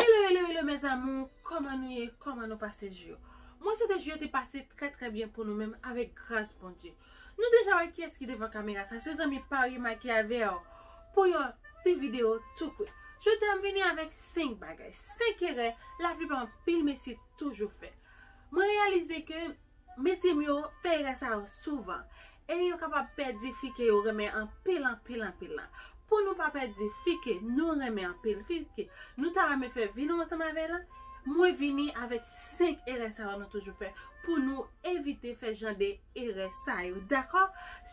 Hello hello hello mes amours Koman nou ye Koman nou pase jou yo Mwen swete jou yo te pase trè trè byen pou nou menm avèk gras Bondye Nou deja wè kiyès ki devan kamera sa se zanmi pa w yo Mikey avèw pou yon ti video tou kout Jodi a m vini avèk 5 bagay 5 erè laplipa anpil mesye toujou fè Mwen reyalize ke Mesye m yo fè erè sa yo souvan e yo kapab pèdi fi ke yo renmen anpil anpil anpil lan. Pou nou pa pèdi fi ke nou renmen anpil, fi ke nou ta renmen fè vi nou ansanm avè l, mwen vini avèk 5 erè sa yo nou toujou fè pou nou evite fè jan de erè sa yo. Dakò?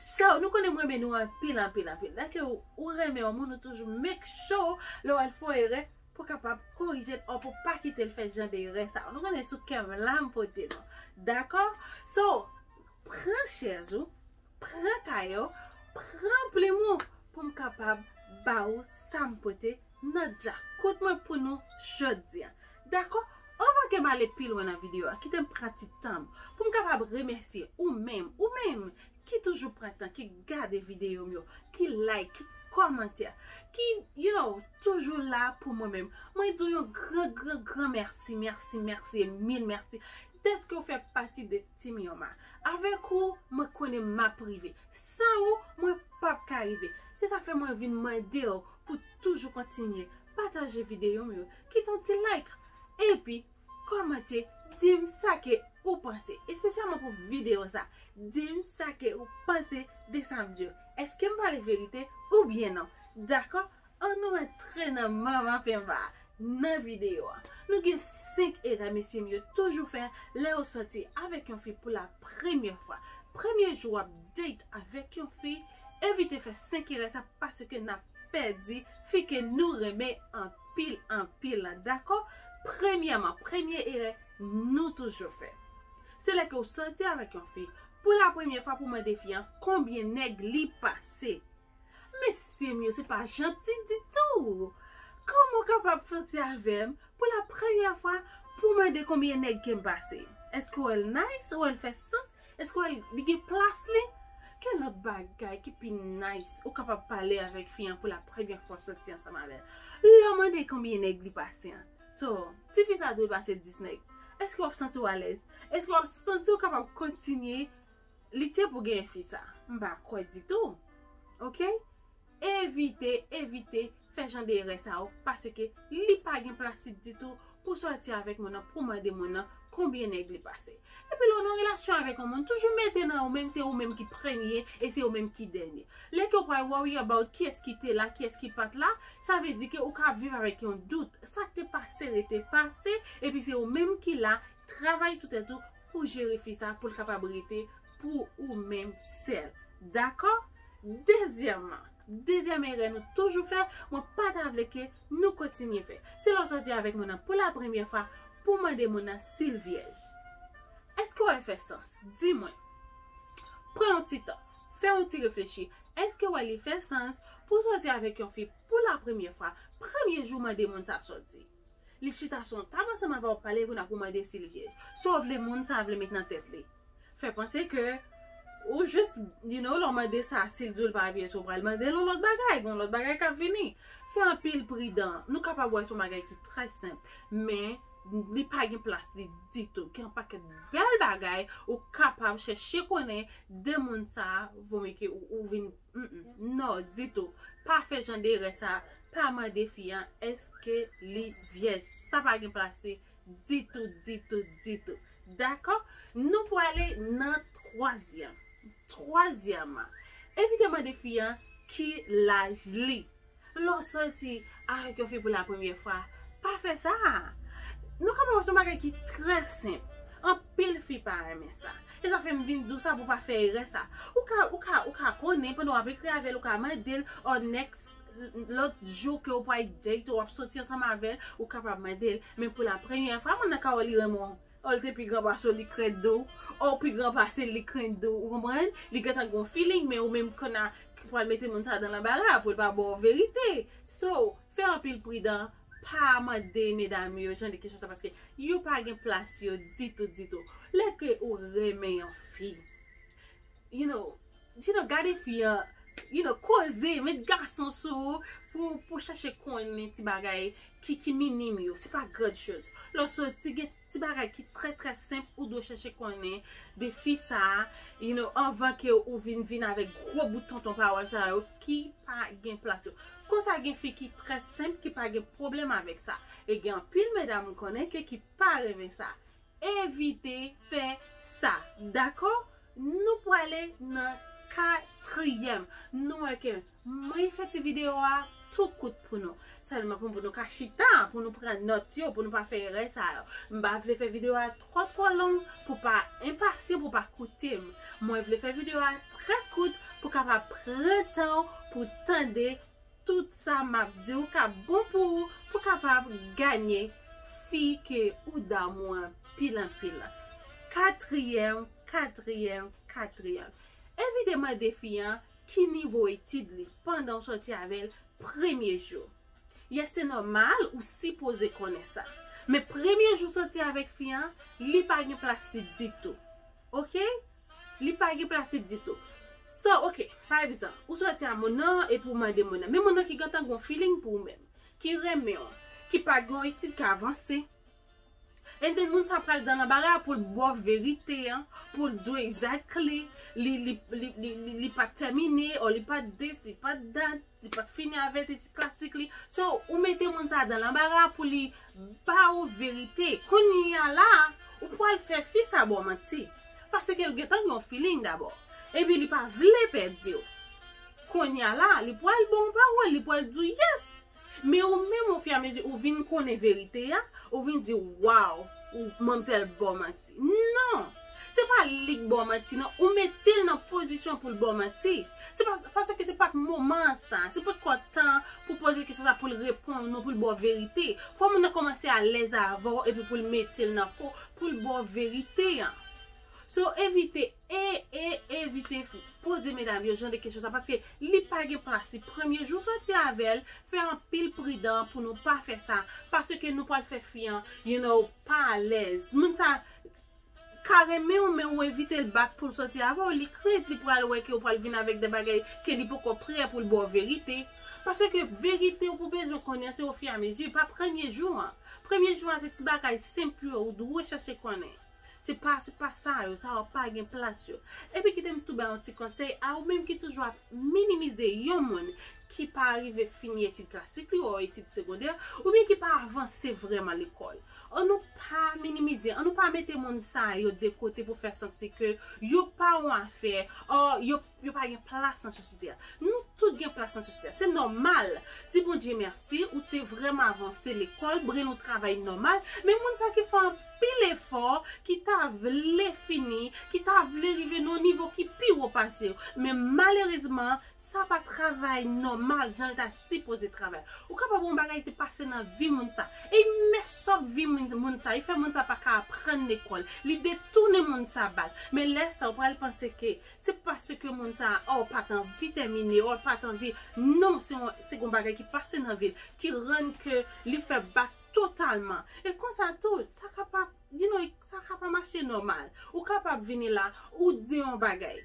So, nou konnen m renmen nou anpil anpil anpil. Dèke ou renmen yon moun ou toujou make sure lè w wè l fè yon erè Pou kapab korije l or pou pa kite l fè jan de erè sa yo. Nou konnen sou kè m la m pote nou. Dakò? So, pran chèz ou, pran kaye w, pran plim ou pou m kapab ba ou sa m pote nan djakout mwen pou nou jodi a. Dakò? Anvan ke m ale pi lwen nan videyo a, kite m pran ti tan m pou m kapab remèsye ou menm, ou menm! ki toujou pran tan, ki gade videyo m yo, ki like, ki kòmantè, ki you know, toujou la pou mwen menm. Mwen di w yon gran gran gran mèsi, mèsi, mèsi e mil mèsi dèske ou fè pati de Team Yoma. Avèk ou, mwen konnen m ap rive. San ou, mwen p ap ka rive. Se sa k fè mwen vin mande w pou toujou kontinye pataje videyo m yo, kite yon ti like. Epi. Kòmante, dim sa ke ou panse. Espesyalman pou video sa. Dim sa ke ou panse de sa m di yo. Eskem pale verite ou byen non. Dakò? An nou antre nan manman fenva a. Nan video a. Nou gen 5 erè mesye m yo toujou fè lè yo sòti avèk yon fi pou la premyè fwa. Premye jou wap date avèk yon fi, evite fè 5 erè sa paske nap pèdi fi ke nou renmen anpil. anpil anpil la dakò premyèman premye erè nou toujou fè se lè ke ou sòti avèk yon fi pou la premye fwa pou mande fi an konbyen nèg li pase mesyem yo se pa janti ditou kòman ou kapab sòti avèm pou la premye fwa pou mande konbyen nèg kem pase eske ou wèl nice ou wèl fè sans Eske w wè li gen plas li? Ki lòt bagay ki pi nice ou kapab pale avèk fi an pou l ap premye fwa w soti ansanm avè l? Lè w mande konbyen nèg li pase an. So, ti fi sa dwe pase 10 nèg. Eske w ap santi w alèz? Eske w ap santi w kapab kontinye lite pou w genyen fi sa? M pa kwè ditou. Ok? Evite, evite, fè jan de erè sa yo, paske li pa gen plastik ditou pou sòti avèk moun nan pou mande moun nan konbyen nèg li pase. Epi lè w nan relasyon avèk yon moun, toujou mete nan ou menm se ou menm ki premye e se ou menm ki dènye. Lè ke w pral worry about kiyès ki te la, kiyès ki pat la, sa vle di ke ou ka ap viv avèk yon dout. Sa k te pase rete pase, epi se ou menm ki la, Travay tou tèt ou pou jere fi sa poul kapab rete pou ou menm sèl. Dakò? Dezyèman, dezyèm erè nou toujou fè, mwen pa ta vle ke nou kontinye fè. Se lè w sòti avèk moun nan pou la premyè fwa pou w mande moun nan si l vyèj. Eske wè l fè sans? Di mwen. Pran yon ti tan. Fè yon ti reflechi. Eske wè li fè sans pou w sòti avèk yon fi pou la premyè fwa, premye jou mande moun sa sòti? Li chita sou yon tab ansanm avè w pale epi w nan pou mande si l vyèj. Sa w vle moun sa vle met nan tèt li? Fè panse ke ou jis you know lè w mande sa si l di w l pa vyèj ou pral mande l yon lòt bagay, gen yon lòt bagay kap vini. Fè anpil pridan. Nou kapab wè se yon bagay ki trè senp men li pa gen plas li ditou. Gen yon pakèt bèl bagay ou kapab chèche konnen de moun sa vo mye ke ou vin non ditou. Pa fè jan de erè sa Pa mande fi an eske li vyèj. Sa pa gen plase ditou, ditou, ditou. Dakò? Nou pwale nan twazyèm. Twazyèman, evite mande fi an ki laj li. Lè w soti avèk yon fi pou la premyè fwa, pa fè sa a. Nou ka pa wè se yon bagay ki trè senp. Anpil fi pa renmen sa. E sa fè m vin di w sa pou w pa fè erè sa. Ou ka, ou ka, ou ka konnen pandan w ap ekri avè l, ou ka mande l, or next. Lòt jou ke ou pwal date ou ap soti ansanm avèl, ou kapab mandel, men pou la premyè fwa, moun nan ka wè li renmen w, o l te pi gran pase w li krent de w, o w pi gran pase l li krent de w, ou konprann? Li gentan gen yon feeling men ou menm konna ki pwal mete moun sa dan lanbara pou l pa ba w verite. So, fè anpil pridan, pa mande medam yo jan de kesyon sa paske yo pa gen plas yo ditou ditou. Lè ke ou renmen yon fi, You know You know gade fi an You know koze met gason sou ou Pou pou chache konnen ti bagay Ki ki minim yo Se pa grand chose Lè w soti gen ti bagay ki trè trè senp Ou dwe chache konnen de fi sa a You know anvan ke ou vin vin avèk gwo bout tonton pawòl sa yo Ki pa gen plas yo Konsa gen fi ki trè senp Ki pa gen pwoblèm avèk sa E gen anpil medam m konnen ke ki pa renmen sa Evite fè sa. Dakò? Nou prale nan katriyèm. Nou wè ke mwen fè ti video a tou kout pou nou. Sèlman pou nou ka chita, pou nou pran nòt yo, pou nou pa fè erè sa yo. M pa vle fè video a twò twò long pou pa enpasyan, pou pa koute m. Mwen vle fè video a trè kout pou kapab pran tan ou pou tande. Tout sa map diw ka bon pou ou pou kapab ganye fi ke ou damou an pil anpil la. Katriyèm, katriyèm, katriyèm. Evite mande fi an ki nivo etid li pandan ou sòti avèl premye jou. Yes se nòmal ou sipoze konnen sa. Men premye jou sòti avèk fi an, li pa gen plas li ditou. Ok? Li pa gen plastik ditou. So, ok, pa egzanp, ou sòti a moun nan, epi ou mande moun nan, men moun nan ki gentan gen yon feeling pou ou menm, ki renmen ou, ki pa gen yon etid k avanse, and then moun sa pral dan lanbara pou l ba w verite an, pou l di w exactly, li pa termine, or li pa this, li pa that. Li pap fini a vète ti plastik li. So, ou mete moun sa dan lanbara pou li ba ou verite. Kounya la, ou pwal fè fi sa ba w manti. Paske l gentan gen yon feeling dabò. Epi li pa vle pèdi w. Kounya la, li pwal ba w yon pawòl, li pwal di w yes. Men ou menm o fi a mezi ou vin konnen verite a, ou vin di waw, manmzèl ba w manti. Non! Se pa li k baw manti non, ou mete l nan pozisyon pou l baw manti. Se pa paske se pat moman an sa, se pot ko tan an pou poze kesyon sa pou l reponn ou non pou l baw verite. Fò moun nan komanse alèz avè w epi pou l mete l nan po w pou l baw verite an. So evite e e evite poze medam yo jan de kesyon sa paske li pa gen plas li. Premye jou w soti avè l, fè anpil pridan pou nou pa fè sa paske nou pwal fè fi an you know. Pa alèz. Moun sa Ka renmen w men ou evite l back poul sòti avè w li krent li pral wè ke ou pral vin avèk de bagay ke li poko prè poul ba w verite. Paske verite ou pou bezwen konnen se ofi a mezi pa premye jou an. Premye jou an se ti bagay senp yo ou dwe chache konnen. Se pa se pa sa yo sa yo pa gen plas yo. Epi kite m tou ba yon ti konsèy a ou menm ki toujou ap minimize yon moun. ki pa rive fini etid klasik li o etid segondè, oubyen ki pa avanse vrèman lekòl. An nou pa minimize, an nou pa mete moun sa yo de kote pou fè santi ke yo pa yon afè, o yo pa gen plas nan sosyete a. Nou tout gen plas nan sosyete a. Se nòmal, di Bondye mèsi, ou te vrèman avanse lekòl, brenn ou travay nòmal, men moun sa ki fè anpil efò, ki ta vle fini, ki ta vle rive nan yon nivo ki pi wo pase yo. Men malerezman, Sa pa travay nòmal jan l ta sipoze travay. Ou kapab yon bagay te pase nan vi moun sa. E li mès òf vi moun sa. Li fè moun sa pa ka aprann lekòl. Li detounen moun sa bal. Men lè sa ou pral panse ke se paske moun sa or pa t anvi tèmine, or pa t anvi. Non, se yon te gen yon bagay ki pase nan vi l ki rann ke li fè bak totalman. E konsa tou, sa kapab. Dinoy, sa ka pa mache nòmal. Ou kapab vini la, ou di yon bagay.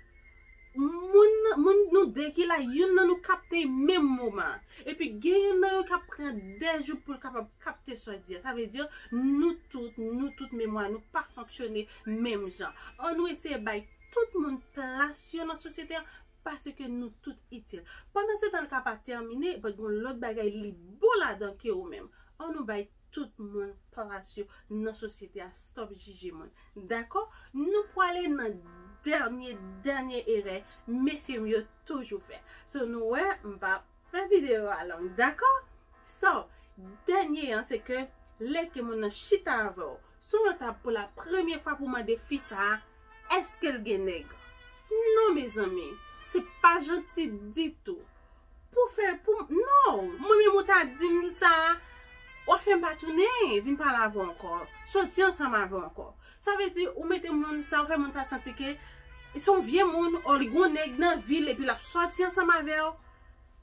Moun, moun nou de ki la, youn nan nou kapte menm moman an. Epi gen youn nan yo k ap pran de jou pou l kapab kapte sa w di a. Sa vle di, nou tout, nou tout memwa nou pa fonksyone menm jan. An nou eseye bay tout moun plas yo nan sosyete a, paske nou tout itil. Pandansetan l ka pa tèmine, bòt gen yon lòt bagay li bon ladan ke ou menm. An nou bay Tout moun plas yo nan sosyete a stop jije moun dakò nou pwale nan dènye dènye erè mesye m yo toujou fè so nou wè m pa fè video a long dakò so dènye an se ke lè ke moun nan chita avèw Sou yon tab pou la premye fwa pou mande fi sa a èske l gen nèg. Non mezanmi, se pa janti ditou. Pou fè, pou, non, mwen menm ou ta di m sa, wap fè m pa tounen vin pale avè w ankò, soti ansanm avè w ankò. Sa vle di ou mete moun sa, ou fè moun sa santi ke se yon vye moun, ò li gen yon nèg nan vi l epi lap soti ansanm avè w.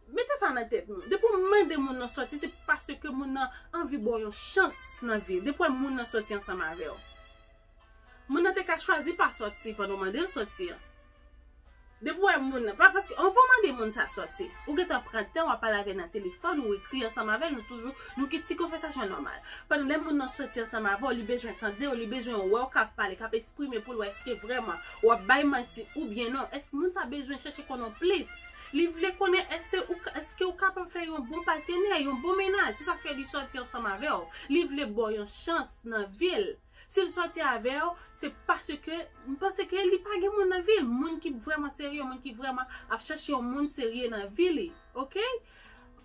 Mete sa nan tèt nou. Depi w mande moun nan sòti se paske moun nan anvi ba w yon chans nan vi. Depi w wè moun nan sòti ansanm avè w. Moun nan te ka chwazi pa sòti pandan w mande l sòti an. Depi w wè moun nan. Pa paske anvan w mande moun sa sòti. Ou gentan pran tan w ap pale avè l nan telefòn ou ekri ansanm avè l nou toujou nou gen ti konvèsasyon nòmal. Pandan lè moun nan sòti ansanm avè w li bezwen tande w li bezwen wè w k ap pale k ap esprime pou l wè èske vrèman w ap bay manti oubyen non. Èske moun sa bezwen chèche konnen w plis. Li vle konnen èske ou ka, èske ou kapab fè yon bon patenè, yon bon mennaj. Se sa k fè li sòti ansanm avè w. Li vle ba w yon chans nan vi l. Si l sòti avè w, se paske, m panse ke li pa gen moun nan vi l. Moun ki vrèman serye, moun ki vrèman ap chèche yon moun serye nan vi li. Ok?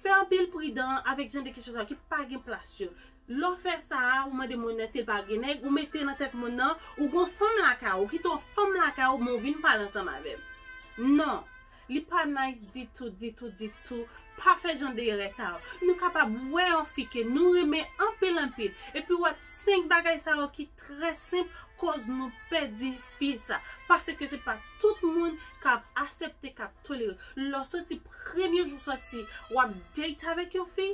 Fè anpil pridan avèk jan de kesyon sa yo ki pa gen plas yo. Lè w fè sa a, ou mande moun nan si l pa gen nèg, ou mete nan tèt moun nan, ou gon fanm lakay ou, ou kite yon fanm lakay ou men ou vin pale ansanm avè l. Non. Li pa nice ditou, ditou, ditou. Pa fè jan de erè sa yo. Nou kapab wè yon fi ke nou renmen anpil, anpil, epi wè 5 bagay sa yo ki trè senp koz nou pèdi fi sa. Paske se pa tout moun kap asepte, kap tolere. Lè w soti premye jou w soti, wap date avèk yon fi.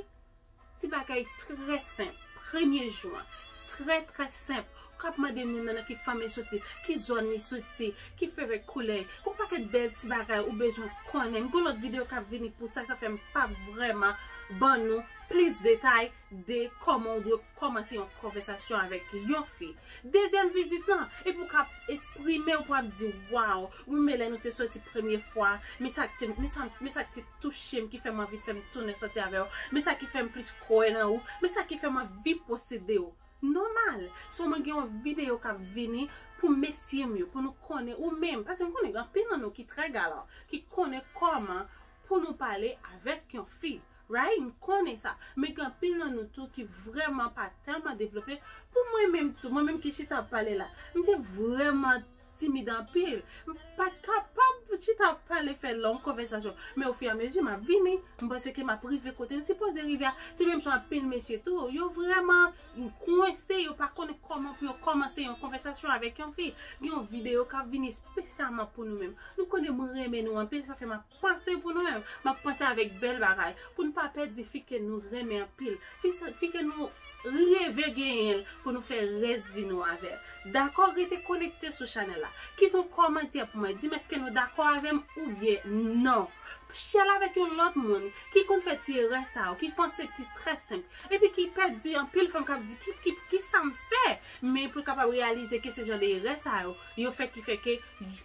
Ti bagay trè senp, premye jou an, trè trè senp, ou kab mande moun nan nan ki fanmi l soti, ki zòn li soti, ki fevèt koulè, yon pakèt bèl ti bagay ou bezwen konnen. M gen yon lòt videyo k ap vini pou sa, sa fè m pa vrèman ban nou plis detay de kòman ou dwe kòmanse yon konvèsasyon avèk yon fi. Dezyèm vizit lan, epi ou ka esprime ou pou ap di waw, Mwen renmen lè nou te soti premye fwa, men sa k te, men sa k te touche m ki fè m anvi fè m tounen soti avè w, men sa ki fè m plis kwè nan ou, men sa ki fè m anvi posede w. Nòmal! So mwen gen yon videyo k ap vini pou mesye m yo, pou nou konnen ou menm, paske m konnen gen anpil nan nou ki trè galan, ki konnen kòman pou nou pale avèk yon fi, right, m konnen sa, men gen anpil nan nou tou ki vrèman pa tèlman devlope, pou mwen menm tou, mwen menm ki chita ap pale la, m te vrèman. timid anpil, m pat kapab chita ap pale fè long konvèsasyon, men ofiramezi m ap vini, m panse ke m ap rive kote m sipoze rive a, se menm jan anpil mesye tou, yo vrèman kwense, yo pa konnen kòman pou yo kòmanse yon konvèsasyon avèk yon fi, gen yon videyo k ap vini espesyalman pou nou menm, nou konnen m renmen nou anpil sa fè m ap. Pase pou nou menm. M ap panse avèk bèl bagay. Pou n pa pèdi fi ke nou renmen anpil. Fi ke nou reve genyen l pou nou fè rès vi nou avè l. Dakò? Rete konekte sou chanèl la. Kite yon kòmantè pou mwen. Di m èske nou dakò avè m oubyen non. Share l avèk yon lòt moun ki konn fè ti erè sa yo. Ki panse ki trè senp. Epi ki pè di anpil fanm k ap di kisa m fè? Men pou l kapab reyalize ke se jan de erè sa yo yo fè ki fè ke.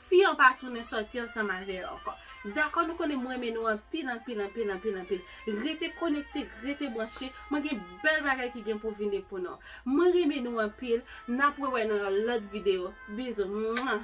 Fi an pa tounen sòti ansanm avè yo ankò. Dakò nou konnen m renmen nou anpil anpil anpil anpil anpil. Rete konekte, rete branche, mwen gen bèl bagay ki gen pou vini pou nou. Mwen renmen nou anpil, n ap wè wè nan yon lòt videyo. Bizou. Mwah.